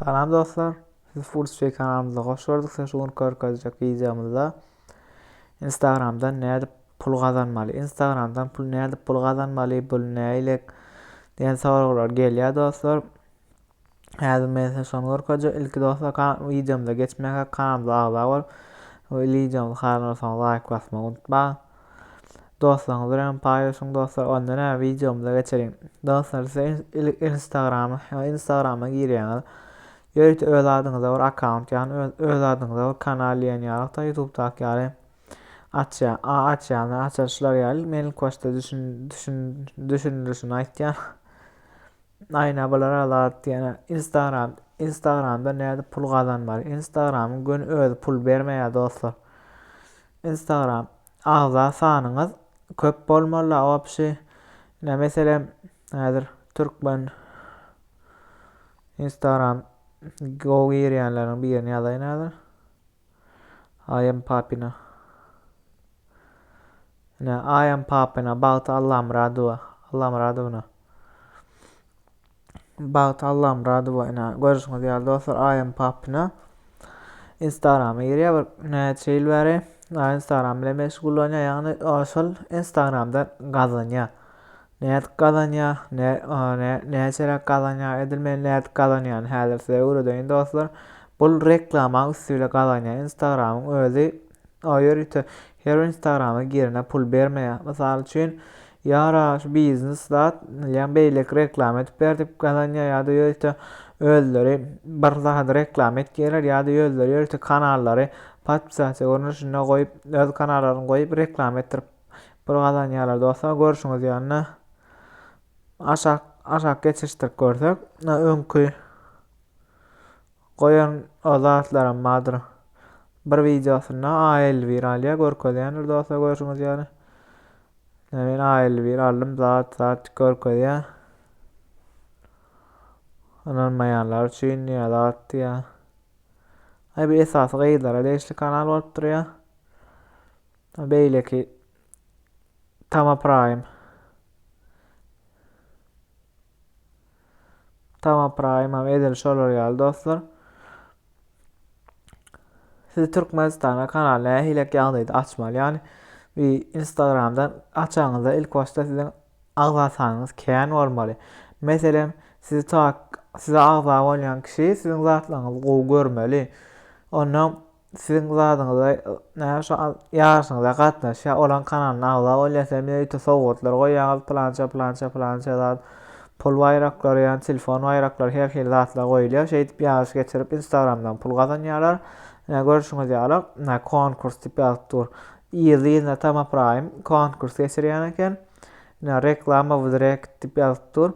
Salam dostlar! Sizi Furtway kanalymyza hoş gördük. Size şu gün görkezjek wideomyzda Instagramdan nädip pul gazanmaly? Instagramdan pul nädip pul gazanmaly? Bul näýlek? diýen soraglar gelýär dostlar. Häzir men size şony görkezjek. Ilki dostlar wideomyza geçmäge kanalymyza agza bolup, bu wideomyzy haýran bolsaňyz laýk basmagy unutmaň. Dostlaryňyz bilen paýlaşyň dostlar onda näme wideomyza geçeliň. Dostlar siz ilk instagrama instagrama girýäňiz. Ýörite öz adyňyza bir akkaunt ýagny öz, öz adyňyza bir kanal diýen ýalykda ýutubdaky ýaly açýa a açýany açaryşlar ýaly men ilk başda düşün düşün düşündirişini aýtýan. Aýna bular alat diýen instagram instagramda näde pul gazanmaly instagramyň göni özi pul bermeýär dostlar. Instagram agza sanyňyz köp bolmalyda opşi ine meselem häzir türkmen Instagram go girýänleriň birini ýazaýyn häzir I am papina ine I am papina bagty allamyradowa allamyradowna Bagt Allamyradowa ina görüşiňiz ýaly dostlar Aýam Papina Instagrama girýär bir näçe ýyl bäri Instagram bilen meşgullanýar ýagny şol Instagramda gazanýar nädip gazanýar, ne, ne, näçeräk gazanýar, edil men nädip gazanýan häzir size öwredeýin dostlar. Bul reklama üstüyle gazanýar. Instagramyň özi O ýörite her bir instagrama girene pul bermeýär. Mysal üçin, ýara şu biznes zat milýan beýleki reklama edip ber diýip gazanýar ýa-da ýörite özleri bir zady reklama etýärler ýa-da özleri ýörite kanallary podpisasiýa görnüşinde goýup, öz kanallaryny goýup reklama etdirip pul gazanýarlar. Dostlar, görşüňiz ýaly aşak aşak geçişdirip görsek, öňki Goýan o zatlaram bardyr. Bir wideosynda A elli bir alýa görkezýändir dostlar görşüňiz ýaly. Ine men A elli bir aldym zat zat görkezýär. Ynanmaýanlar üçin ýa zat ýa. Ay bu esasy gyzlara degişli kanal bolup durýar. Beýleki Tama Prime. Tamam Praýymam edil şolar ýaly dostlar. Siz Türkmenistana kanal nähili ýagdaýda açmaly? Ýani bir Instagramdan açaňyzda ilk başda siziň agza sanyňyz kän bolmaly. Meselem, sizi tak size agza bolýan kişi siziň zatlaryňyzy gowy görmeli. Onda Siziň zadyňyza näme şu ýaryşyňyza gatnaşýar, olaň kanalyna agza bolýar, sen bize ýiti sowgatlar goýýaňyz, plança, plança, plança zat, pul baýraklary, ýa telefon baýraklary, her hili zatlar goýulýar. Şeýdip ýaryş geçirip Instagramdan pul gazanýarlar. Ine görşüňiz ýaly, ine konkurs diýip ýazyp dur. Ýylyna tamapraýym konkurs geçirýän eken. Ine reklama w direkt diýip ýazyp dur.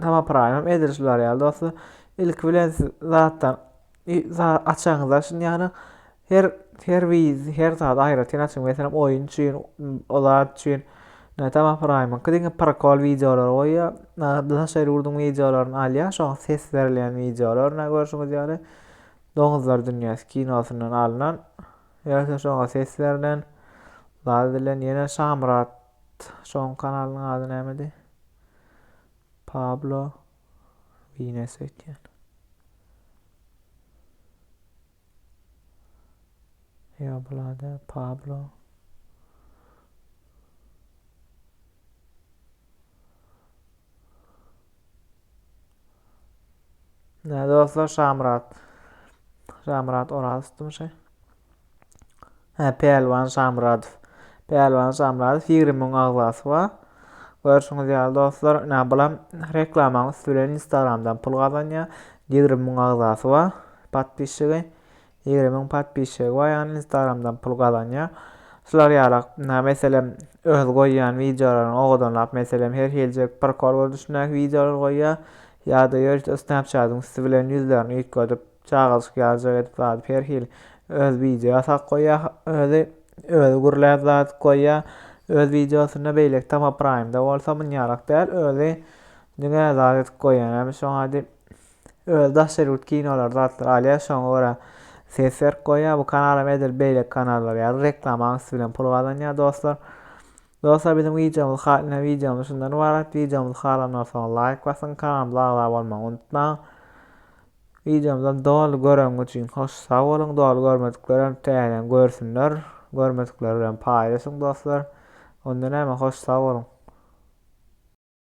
Tama praýym edilişi bar ýaly dostlar. Ilk bilen siz zatdan açaňyzda şun ýany her her wiz her zat aýratyn açyň meselem oýun üçin o zat üçin Tama praýymyň diňe prokol wideolary goýýar. Daşary ýurduň wideolaryny alýar. Şoň ses berilýän wideolarna görşüňiz ýaly doňuzlar dünýäsi kinosyndan alnan. Ýa-da şoňa ses berlen. Zat edilen ýene Şamyrat şoň kanalynyň ady nämedi? Pablo Wines öýtýän. Ýa bulada Pablo. Ne dostlar Şamyrat. Şamyrat Orazowmy şey? Hä, Pälwan Şamyradow. Pälwan Şamyradow ýigrimi müň agzasy bar. Görşüňiz ýaly dostlar, ine bulam reklamaň üsti bilen Instagramdan pul gazanýar. Ýigrimi müň agzasy bar, podpisçigi. Ýigrimi müň podpisçigi bar, ýagny Instagramdan pul gazanýar. Şular ýaly, ine meselem, öz goýýan wideolaryny owadanlap, meselem, her hiljek prikol görnüşindäki wideolary goýýar. Ýa-da ýörite Snapchat-yň üsti bilen ýüzlerini üýtgedip, Çaga çykýarjak edip zady her hili öz wideo sak goýýa özi özi gürläp zat goýýa öz wideosynda beýleki tama praýmda bolsa munýarak däl özi diňe zat edip goýýa näme şoňa edip öz daşary ýurt kinolar zatlar alýa şoňa görä ses berip goýýa bu kanalam edil beýleki kanallar ýaly reklamaň üsti bilen pul gazanýa dostlar Dostlar biziň wideomyz haline wideomyz şundan ybarat wideomyz halanlar soň laýk basyň kanalymyza agza bolmagy unutmaň Wideomyzam doly göreňiz üçin hoş sag boluň doly görmediklerem täzeden görsünler görmedikler bilen paýlaşyň dostlar onda näme hoş sag boluň.